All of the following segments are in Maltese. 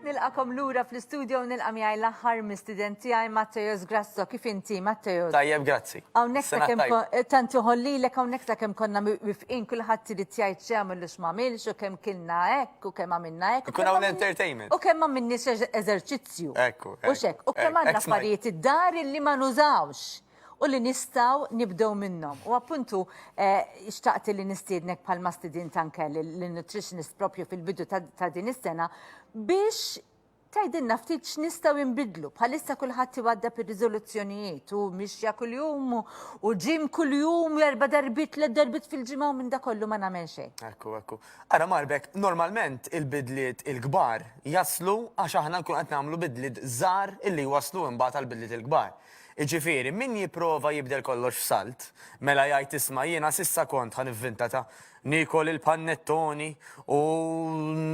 Nilqakom lura fl-istudio nilqa' miegħi l-aħħar mistident tiegħi Matteos Grasso kif inti Matteos. Tajjeb, grazzi. Hawnhekk ta' kemm tant joħollilek hawnhekk ta' kemm konna wifqin kulħadd irid jgħid x'għamel u x'magħmilx u kemm kilna hekk. U kemm għamilna hekk. Ikun hawn entertainment. U kemm għamilni eżerċizzju. Ekku. U xek, u kemm għandna affarijiet id-dar li ma nużawx u li nistaw nibdew minnhom. U appuntu eh, xtaqt li nistiednek bħal ma stidint anke l-nutritionist propju fil-bidu ta' din is-sena biex Tgħidilna ftit x'nistgħu inbiddlu. Bħalissa kulħadd iwaddab ir-riżoluzzjonijiet u mixja kuljum u ġim kuljum erba' darbit tliet darbit fil-ġimgħa u minn da kollu ma nagħmel xejn. Ekku, ekku. Ara Marbek, normalment il-bidliet il-kbar jaslu għax aħna nkun qed nagħmlu bidliet żgħar illi jwasslu imbagħad għall-bidliet il-kbar. Jiġifieri, min jipprova jibdel kollox f'salt, mela jgħid isma' jiena s'issa kont ħa nivvinta ta' Niekol il-pannettoni u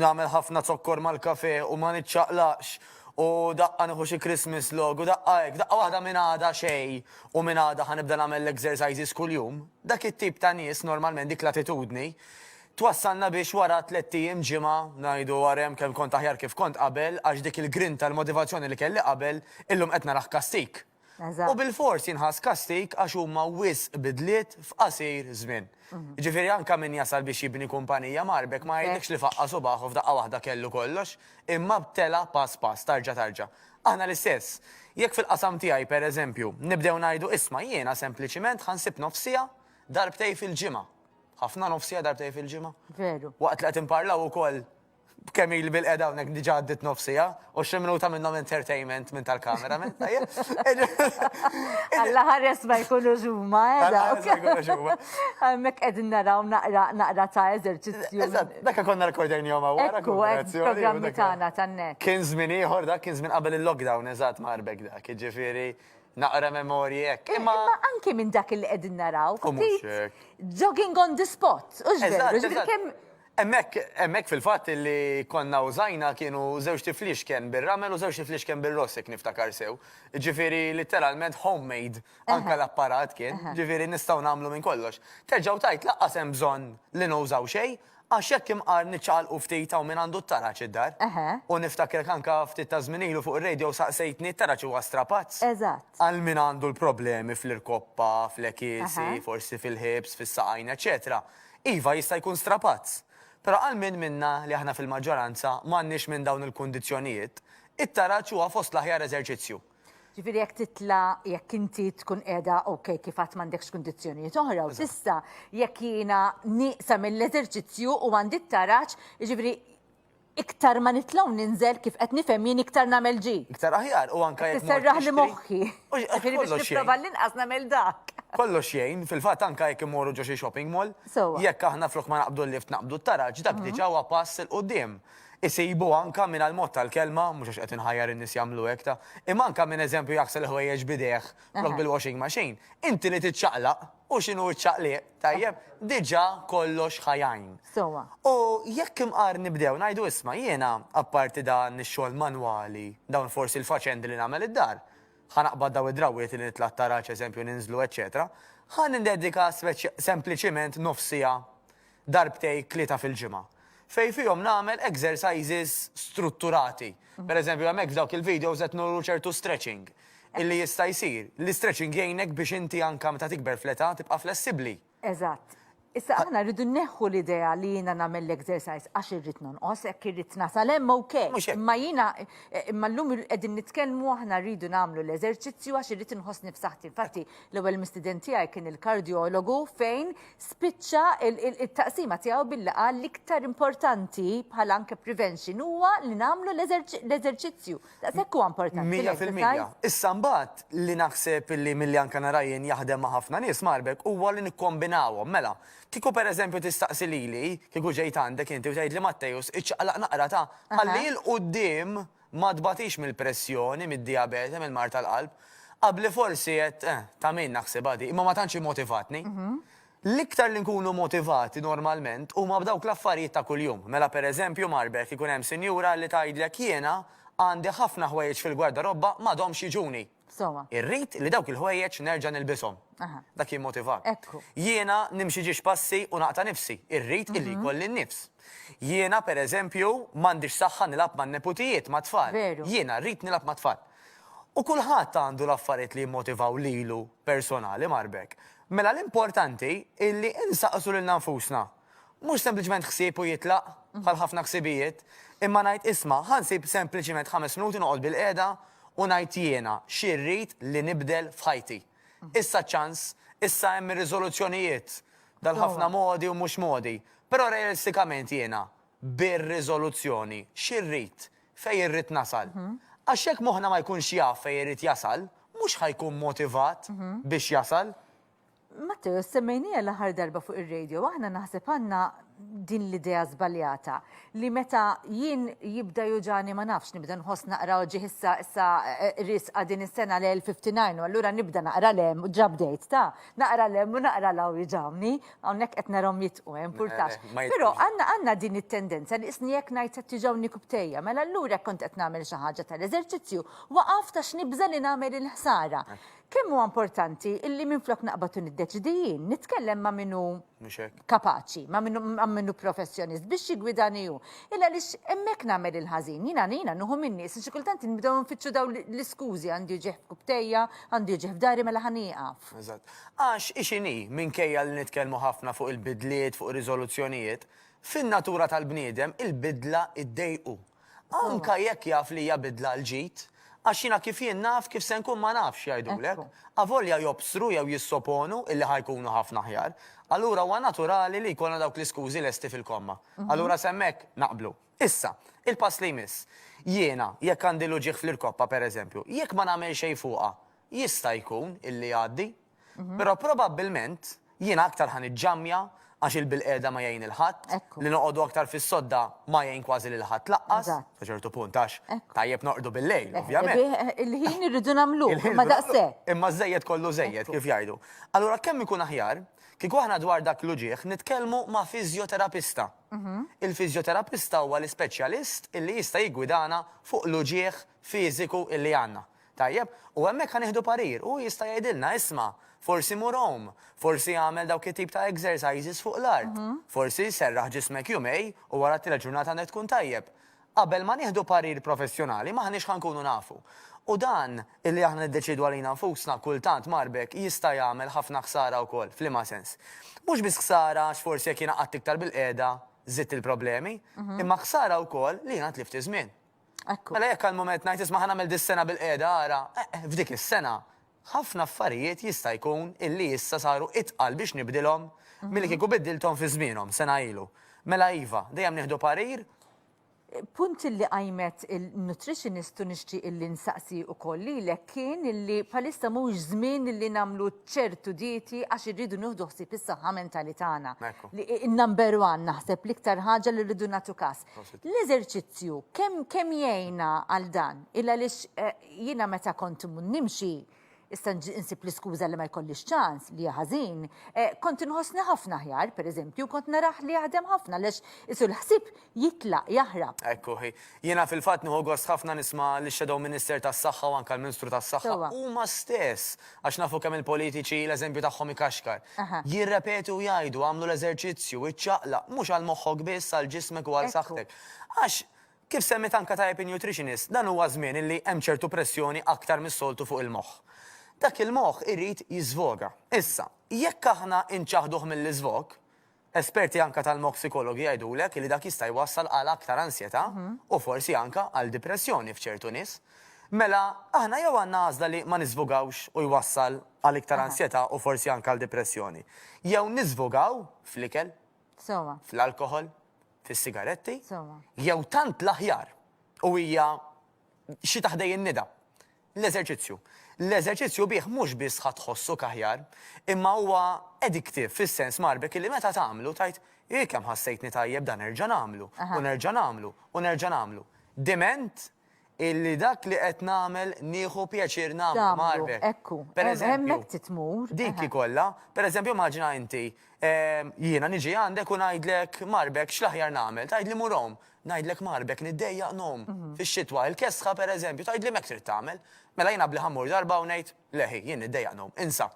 nagħmel ħafna zokkor mal-kafè u ma niċċaqlaqx u daqqa nieħu xi Christmas log u daqqa hekk, daqqa waħda minn għada xejn u minn għada ħa nibda nagħmel l-exercises kuljum. Dak it-tip ta' nies normalment dik l-attitudni twassalna biex wara tlett ijiem, ġimgħa, ngħidu warem kemm kont aħjar kif kont qabel għax dik il-grinta, il-motivazzjoni li kelli qabel illum qed narah kastik. U bil-fors jinħass kastik għax huma wisq bidliet f'qasir żmien. Mhm. Ġifieri anke min jasal biex jibni kumpanija marbek ma jgħidlekx li faqqa' subaħu f'daqqa waħda kellu kollox, imma btela pass pass tarġa' tarġa'. Aħna l-istess. Jekk fil-qasam tiegħi pereżempju nibdew ngħidu isma' jiena sempliċiment ħansib nofsija darbtej fil-ġimgħa. Ħafna nofsija darbtej fil-ġimgħa. Veru. Waqt li qed imparlaw ukoll B'kemm ili bil-qegħda hawnhekk diġà għaddiet nofs siegħa u xi minuta minnhom entertainment minn tal-kamera men. Alla ħares ma jkunux huma, eh? Alla ħares ma jkunux huma. Hemmhekk qegħdin naraw naqra naqra ta' eżerċizzju. Eżatt, dak konna rekordejn jom hawn wara kooperazzjoni. Programmi tagħna tan-net. Kien żmien ieħor dak, kien żmien qabel il-lockdown, eżatt marbek dak, jiġifieri naqra memorji hekk. Imma anke minn dak li qegħdin naraw, ftit jogging on the spot, u x'veru, kemm Hemmhekk, hemmhekk fil-fatt li konna użajna kienu żewġ tifliexken bir-ramel u żewġ tifliexken bir-ross jekk niftakar sew. Jiġifieri litteralment homemade anke l-apparat kien, jiġifieri nistgħu nagħmlu minn kollox. Terġa' u tgħid lanqas hemm bżonn li nużaw xejn għax jekk imqar niċċaqalqu ftit hawn min għandu t-taraġ id-dar. U niftakrek anke ftit ta' żmien ilu fuq ir-radio saqsejtni t-taraġ huwa strapazz? Eżatt. Għal min għandu l-problemi fl-irkoppa, fl-għekiesi, forsi fil-hips, fis-saqajn eċċetera. Iva, jista' jkun strapazz. Però għal min minna li aħna fil-maġġoranza m'għandniex minn dawn il-kundizzjonijiet, it-taraġ huwa fost l-aħjar eżerċizzju. Ġifieri jekk titla', jekk inti tkun qiegħda ok kif għad m'għandekx kundizzjonijiet oħra u tista', jekk jiena nieqsa mill-eżerċizzju u għandi t-taraġ, jiġifieri, Iktar ma nitla' u ninżel, kif qed nifhem jien iktar nagħmel ġi. Iktar aħjar, u anke jekk mort tixtri. Tisserraħli moħħi. Ġifieri biex nipprova l-inqas nagħmel dak. Kollox jgħin, fil-fatt anke jekk immorru ġo xi shopping mall, jekk aħna flok ma naqbdu l-lift naqbdu t-taraġ, dak diġà huwa pass 'il quddiem. Isibu anke minn għall-mod tal-kelma, mhux għax qed inħajjar in-nies jagħmlu hekk ta', imma anke minn eżempju jaħsel il-ħwejjeġ b'idejh flok bil-washing machine, inti li tiċċaqlaq, u x'inhu ċ-ċaqliq? Tajjeb, diġa kollox ħajajn. Sowa. U jekk imqar nibdew ngħidu isma' jiena apparti dan ix-xogħol manwali, dawn forsi l-faċendi li nagħmel id-dar, ħa naqbad daw id-drawwiet li nitla' t-taraġ eżempju ninżlu eċċetera, ħa nindedika sempliċiment nofs siegħa darbtejn tlieta fil-ġimgħa. fejn fihom nagħmel exercises strutturati. Pereżempju, hemmhekk f'dawk il-videos qed nuru ċertu stretching illi jista' jsir. L-istretching jgħinek biex inti anke meta tikber fl-età tibqa' flessibbli. Eżatt. Issa aħna rridu nneħħu l-idea li jiena nagħmel l-exercise għax irrid nonqos, hekk irrid nasal hemm ok. Imma jiena imma llum qegħdin nitkellmu aħna rridu nagħmlu l-eżerċizzju għax irrid inħossni f'saħħti. Infatti, l-ewwel mistieden tiegħi kien il-kardjologu fejn spiċċa it-taqsima tiegħu billi qal l-iktar importanti bħala anke prevention huwa li nagħmlu l-eżerċizzju. Daqshekk huwa importanti. Mija fil-mija. Issa mbagħad li naħseb li milli anke narajjen jaħdem ma' ħafna nies marbek huwa li nikkombinawhom. Mela, kieku pereżempju tistaqsi lili, kieku ġejt għandek inti u tgħidli Mattejus iċċaqlaq naqra ta' ħalli il quddiem Ma tbatix mill-pressjoni, mid-dijabete, mill-mard tal-qalb? Qabli forsi għedt, eh, ta' min naħsibha di, imma ma tantx immotivatni. L-iktar li nkunu motivati normalment huma b'dawk l-affarijiet ta' kuljum. Mela pereżempju marbet ikun hemm sinjura li tgħidlek jiena għandi ħafna ħwejjeġ fil-gwardarobba m'għadhomx jiġuni. Sowa. Irrid li dawk il-ħwejjeġ nerġa' nilbishom. Aha. Dak jimmotivat. Ekku. Jiena nimxi ġiex passi u naqta' nifsi. Irrid illi Mhm. jkolli n-nifs. Jiena, per eżempju, m'għandix saħħa nilgħab man-neputijiet, mat-tfal. Veru. Jiena rrid nilgħab mat-tfal. U kulħadd għandu l-affarijiet li jimmotivaw lilu personali, Marbek. Mela l-importanti illi insaqsu lilna nfusna, Mhux sempliċement ħsieb u jitlaq, bħal ħafna ħsibijiet, imma ngħid isma', ħa nsib sempliċement ħames minuti noqgħod bilqiegħda u ngħid jiena xi rrid li nibdel f'ħajti. Issa ċ-ċans, issa hemm ir-riżoluzzjonijiet dal-ħafna modi u mhux modi, però realistikament jiena bir-riżoluzzjoni xi rrid, fejn irrid nasal. Għax jekk moħħna ma jkunx jaf fejn irid jasal, mhux ħa jkun motivat biex jasal. Matteo, semmejnija l-aħħar darba fuq ir-radio, aħna naħseb għandna din l-idea żbaljata li meta jien jibda juġani ma nafx nibda nħoss naqra oġġi issa issa eh, risqa din is-sena l-59 u allura nibda naqra lem u drop date ta' naqra lem u naqra law jiġawni hawnhekk qed narhom jitqu eh, impurtax. Eh, Però għandna għandna din it-tendenza li isni jekk ngħid qed tiġawni kubtejja mela allura kont qed nagħmel xi ħaġa tal-eżerċizzju waqaf ta' x'nibża li nagħmel il-ħsara. Kemm huwa importanti illi minflok naqbad u niddeċidi jien, nitkellem ma' min hu Mhux hekk. kapaċi, ma' min hu- ma' min hu professjonist biex jiggwidani hu. Illa għaliex hemmhekk nagħmel il-ħażin. Jiena jiena nieħu min-nies li xi kultant nibdew nfittxu dawn l- l-iskużi, għandi uġigħ f'kubtejja, għandi uġigħ f'dahri mela ħa nieqaf. Eżatt. Għax hi x'inhi, minkejja li nitkellmu ħafna fuq il-bidliet, fuq ir-riżoluzzjonijiet, fin-natura tal-bniedem il-bidla iddejqu. Anke jekk jaf li hija bidla għal ġid, għax jiena kif jien naf kif se nkun ma nafx, jgħidulek, avolja jobsru jew jissoponu illi ħa jkunu ħafna aħjar. Allura huwa naturali li jkollna dawk l-iskużi lesti fil-komma. Allura s'hemmhekk naqblu. Issa, il-pass li jmiss. Jiena, jekk għandi l-uġigħ fl-irkoppa, pereżempju, jekk ma nagħmel xejn fuqha, jista' jkun illi jgħaddi? Però probabbilment jiena aktar ħa niġġammja għax il-bilqiegħda ma jgħin il-ħadd, li noqogħdu aktar fis-sodda ma jgħin kważi lil ħadd laqqas, sa ċertu punt għax tajjeb noqogħdu bil-lejl, ovvjament. Il-ħin irridu nagħmlu, imma daqshekk. Imma żejjed kollu żejjed, kif jgħidu. Allura kemm ikun aħjar kieku aħna dwar dak l-uġigħ nitkellmu ma' fiżjoterapista. Il-fiżjoterapista huwa l-ispeċjalist illi jista' jiggwidana fuq l-uġigħ fiżiku illi għandna. Tajjeb, u hemmhekk ħa nieħdu parir, hu jista' jgħidilna, isma', forsi mur għum, forsi agħmel dawk it-tip ta' exercises fuq l-art, forsi serraħ ġismek jumej u wara t-tielet ġurnata għandek tkun tajjeb. Qabel ma nieħdu parir professjonali m'aħniex ħa nkunu nafu. U dan, illi aħna niddeċiedu għalina nfusna, kultant mar b'hekk, jista' jagħmel ħafna ħsara wkoll. F'liema sens? Mhux biss ħsara għax forsi jekk jiena qgħadt iktar bilqiegħda żidt il-problemi, imma ħsara wkoll li jiena tlift iż-żmien. Ekku. Mela jekk għall-mument ngħid isma' ħa nagħmel dis-sena bil-qiegħda ara, eh, eh, f'dik is-sena ħafna affarijiet jista' jkun illi issa saru itqal biex nibdilhom milli kieku biddilthom fi żmienhom sena ilu. Mela iva, dejjem nieħdu parir. Punt illi qajmet il-nutritionist u nixtieq illi nsaqsi ukoll lilek kien illi bħalissa mhux żmien illi nagħmlu ċertu dieti għax irridu nieħdu ħsieb is-saħħa mentali tagħna. Ekku. Li number one naħseb l-iktar ħaġa li rridu nagħtu każ. L-eżerċizzju kemm kemm jgħinna għal dan, il għaliex jiena meta kont nimxi issa nsib l-iskuża li ma jkollix ċans, li ħażin, kont inħossni ħafna aħjar, pereżempju, kont narah li jaħdem ħafna għaliex isu l-ħsieb jitlaq, jaħrab. Ekku hi. Jiena fil-fatt nieħu gost ħafna nisma' lix-Shadow Minister tas-Saħħa u anke l-Minstru tas-Saħħa huma stess Għax nafu kemm il-politiċi l-eżempju tagħhom ikaxkar. Jirrepetu u jgħidu, agħmlu l-eżerċizzju, iċċaqlaq, mhux għal moħħok biss, għal ġismek u għal saħħtek. Għax, kif semmiet anke tajjeb in-nutritionist, dan huwa żmien illi hemm ċertu pressjoni aktar mis-soltu fuq il-moħħ. Dak il-moħħ irid jiżvoga. Issa, jekk aħna inċaħħduh mill-iżvog, Esperti anke tal-moħħ psikologi jgħidulek li dak jista' jwassal għal aktar ansjetà u forsi anke għal dipressjoni f'ċertu nies. Mela, aħna jew għandna għażla li ma niżvugawx u jwassal għal iktar ansjetà u forsi anke għal dipressjoni, jew niżvugaw fl-ikel, fl-alkoħol, fis-sigaretti, jew tant l-aħjar u hija xi ta' ħdejn nida. L-eżerċizzju. L-eżerċizzju bih mhux biss ħa tħossok aħjar, imma huwa addictive fis-sens mgħarbek illi meta tagħmlu tgħid, Hi kemm ħassejtni tajjeb dan nerġa' nagħmlu, u nerġa' nagħmlu, u nerġa' nagħmlu. Diment illi dak li qed nagħmel nieħu pjaċir nagħmlu mgħarbek. Pereżempju, dik hi kollha. Pereżempju immaġina inti, jiena niġi għandek u ngħidlek, Mgħarbek x'l-aħjar nagħmel? Tgħidli mur home. Ngħidlek marbek li ddejjaq nom fix-xitwa, il-kesħa pereżempju, tgħidli m'hekk trid tagħmel. Mela jiena bli ħammur darba u ngħid, leħi, jien niddejjaq nom, insa.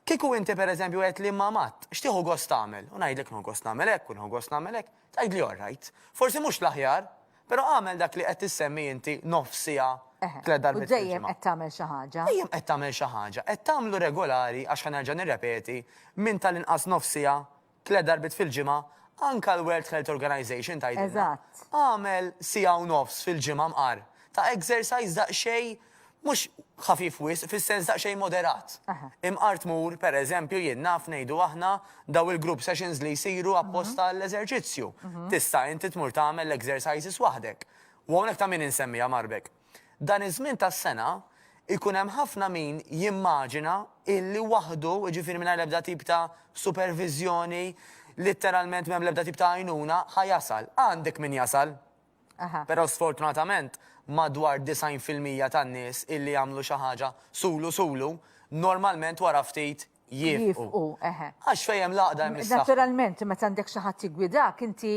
Kieku inti pereżempju qed li ma Matt, x'tieħu gost tagħmel? U ngħidlek nieħu gost nagħmel hekk u nieħu gost nagħmel hekk, tgħidli all right. Forsi mhux l-aħjar, però agħmel dak li qed tissemmi inti nofs siegħa, tliet darbiet fil-ġimgħa. U dejjem qed tagħmel xi ħaġa. Dejjem qed tagħmel xi ħaġa, qed tagħmlu regolari għax ħa nerġa' nirrepeti, minn tal-inqas nofs siegħa tliet darbiet fil-ġimgħa, anke l-World Health Organization tgħidilna, agħmel siegħa u nofs fil-ġimgħa mqar ta' exercise daqsxejn mhux ħafif wisq, fis-sens daqsxejn moderat. Imqar tmur, per eżempju, jien naf ngħidu aħna, dawn il-group sessions li jsiru apposta għall-eżerċizzju. Tista' inti tmur tagħmel l-exercises waħdek. U hawnhekk ta' min insemmiha, Marbek? Dan iż-żmien tas-sena jkun hemm ħafna min jimmaġina illi waħdu, jiġifieri mingħajr l-ebda tip ta' superviżjoni, litteralment m'hemm l-ebda tip ta' għajnuna, ħa jasal. Għandek min jasal. Però sfortunatament madwar 90 fil-mija tan-nies illi jagħmlu xi ħaġa sulu sulu, normalment wara ftit jifqu. Għax fejn hemm l-għaqda hemm is-saħħa. Naturalment, meta għandek xi ħadd jiggwidak, inti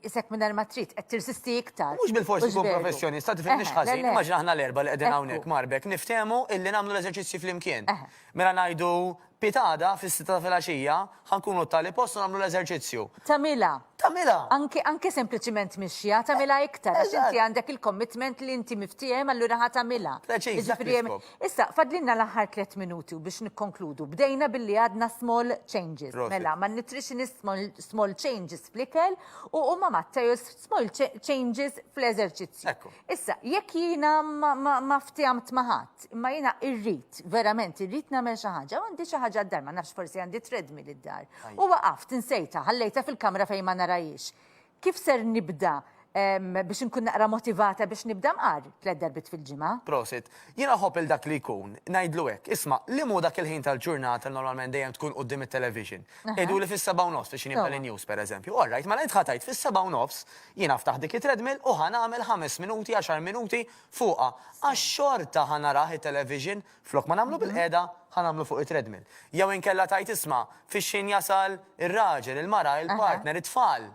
isek mingħajr ma trid qed tirsisti iktar. Mhux bil-fors ikun professjonista, tifhimniex ħażin, immaġina aħna l-erba' li qegħdin hawnhekk marbek niftehmu illi nagħmlu l-eżerċizzji flimkien. Mela ngħidu pitada fis-sitta ta' filgħaxija ħa nkunu t-tali post u nagħmlu l-eżerċizzju. Tagħmilha. Tagħmilha. Anke sempliċiment mixja tagħmilha iktar għax inti għandek il-commitment li inti miftiehem allura ħa tagħmilha. Preċiż. Jiġifieri hemm Issa, fadlinna l-aħħar tliet minuti u biex nikkonkludu. Bdejna billi għadna small changes. Prosit. Mela, ma' nutritionist small, small changes fl-ikel u u ma' Matteus small cha- changes fl-eżerċizzju. Ekku. Issa, jekk jiena ma, ma, ma ftihamt ma' ħadd, imma jiena irrid, verament irrid nagħmel xi ħaġa, u għandi xi ħaġa d-dar, ma nafx forsi għandi treadmill id-dar. Ajja. U waqaft, insejtha, ħallejtha fil-kamra fejn ma narahiex. Kif ser nibda biex nkun naqra motivata biex nibda nqar tliet darbiet fil-ġimgħa? Prosit. Jien aħobb lil dak li jkun, ngħidlu hekk, isma', liem hu dak il-ħin tal-ġurnata li normalment dejjem tkun quddiem it-television? Jgħiduli fis-sebgħa u nofs biex nibda l-news, pereżempju. All right, mela int ħa tgħid fis-sebgħa u nofs jien aftaħ dik it-treadmill u ħa nagħmel ħames minuti, għaxar minuti fuqha. Għax xorta ħa narah it-television, Flok ma nagħmlu bil-qiegħda, ħa nagħmlu fuq it-treadmill. Jew inkella tgħid isma', fix-xien jasal ir-raġel, il-mara, il-partner, it-tfal.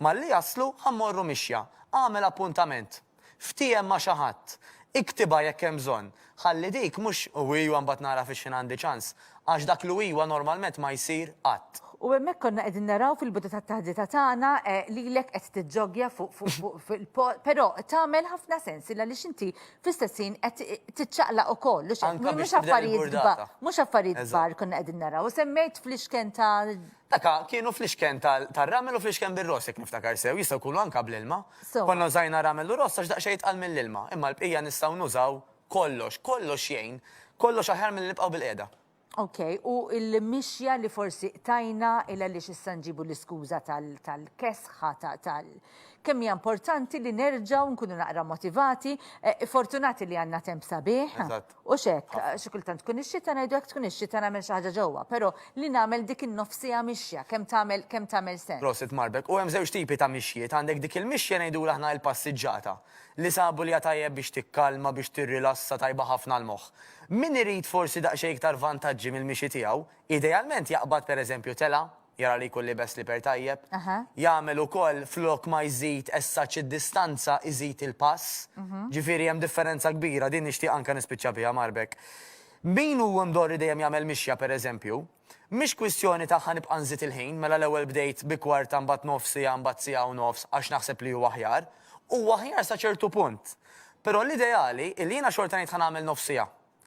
Malli jaslu, ħa mmorru mixja. Agħmel appuntament. Ftiehem ma' xi ħadd. Iktibha jekk hemm bżonn. Ħalli dik mhux u ijwa mbagħad nara fix-xien għandi ċans. Għax dak l-u ijwa normalment ma jsir qatt. U hemmhekk konna qegħdin naraw fil-bidu tat-taħdita tagħna lilek qed tiġġoggja fuq fuq fuq fil-post, però tagħmel ħafna sens għaliex inti fl-istess ħin qed tiċċaqlaq ukoll, u xejn. Mhux affarijiet kbar, mhux affarijiet kbar konna qegħdin naraw. Semmejt fl-ixken ta' Daka, kienu fl-ixken tar-ramel u fl-ixken bir-ross jekk niftakar sew, jistgħu jkunu anke bl-ilma. Konna użajna ramel u ross għax daqsxejn jitqal mill-ilma, imma l-bqija nistgħu nużaw kollox, kollox jgħin, kollox aħjar milli nibqgħu bil-qiegħda. Ok, u il-mixja li forsi qtajna il għaliex issa nġibu l-iskuża tal-kesħa tal kemm hija importanti li nerġgħu nkunu naqra motivati, eh, fortunati li għandna temp sabiħ. U xek, xi kultant tkun ix-xita ngħidu hekk tkun ix-xita nagħmel xi ħaġa ġewwa, però li nagħmel dik in-nofsija mixja kemm tagħmel kemm tagħmel sens. Prosit Marbek, u hemm żewġ tipi ta' mixjiet, għandek dik il-mixja ngħidu aħna l-passiġġata. li sabu li hija tajjeb biex tikkalma, biex tirrilassa, tajba ħafna għall-moħħ. Min irid forsi daqsxejn iktar vantaġġi mill-mixi tiegħu, idealment jaqbad pereżempju telgħa, jara li jkun libes sliper tajjeb, jagħmel ukoll flok ma jżid as-such id-distanza iżid il-pass, ġifieri hemm differenza kbira, din nixtieq anke nispiċċa biha Marbek. Min hu mdorri dejjem jagħmel mixja pereżempju, Mhix kwistjoni ta' ħa nibqa' nżid il-ħin, mela l-ewwel bdejt bi kwarta mbagħad nofs siegħa mbagħad siegħa u nofs għax naħseb li hu aħjar. Huwa aħjar sa ċertu punt. Però l-ideali hi li jiena xorta ngħid ħa nagħmel nofs siegħa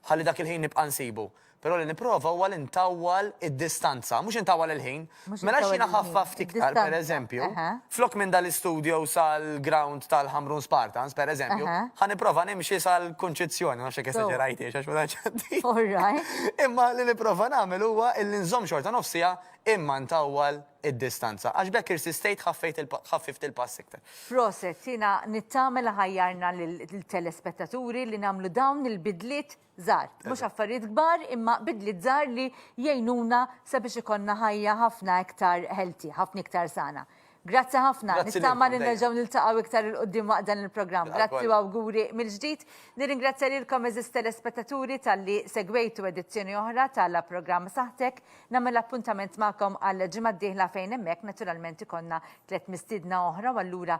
ħalli dak il-ħin nibqa' nsibu. Però li nipprova huwa li ntawwal id-distanza, mhux intawwal il-ħin. Mela x'jiena ħaffaft iktar, pereżempju, Flok minn dal-istudio sal-ground tal-Ħamrun Spartans, per eżempju, ħa nipprova nimxi sal-Kunċizzjoni, ma nafx jekk esaġerajtiex għax ma tantx għandi. All right. Imma li nipprova nagħmel huwa illi nżomm xorta nofs siegħa imma ntawwal id-distanza, għax b'hekk irsistejt ħaffejt il-pa, ħaffift il-pass iktar. Proset, jiena nittama li ħajjarna lill-telespettaturi li nagħmlu dawn il-bidliet żgħar. Mhux affarijiet kbar imma bidliet żgħar li jgħinuna sabiex ikollna ħajja ħafna iktar healthy, ħafna iktar sana. Grazzi ħafna, Grazzi lilkom nittama li dejjem. nerġgħu niltaqgħu iktar 'il quddiem waqt dan il-programm. Grazzi Għall-koll. u awguri mill-ġdid. Nirringrazzja lilkom għeżież telespettaturi talli segwejtu edizzjoni oħra ta' La Programm Saħħtek. Nagħmel appuntament magħkom għall-ġimgħa d-dieħla fejn hemmhekk naturalment ikollna tliet mistiedna oħra u allura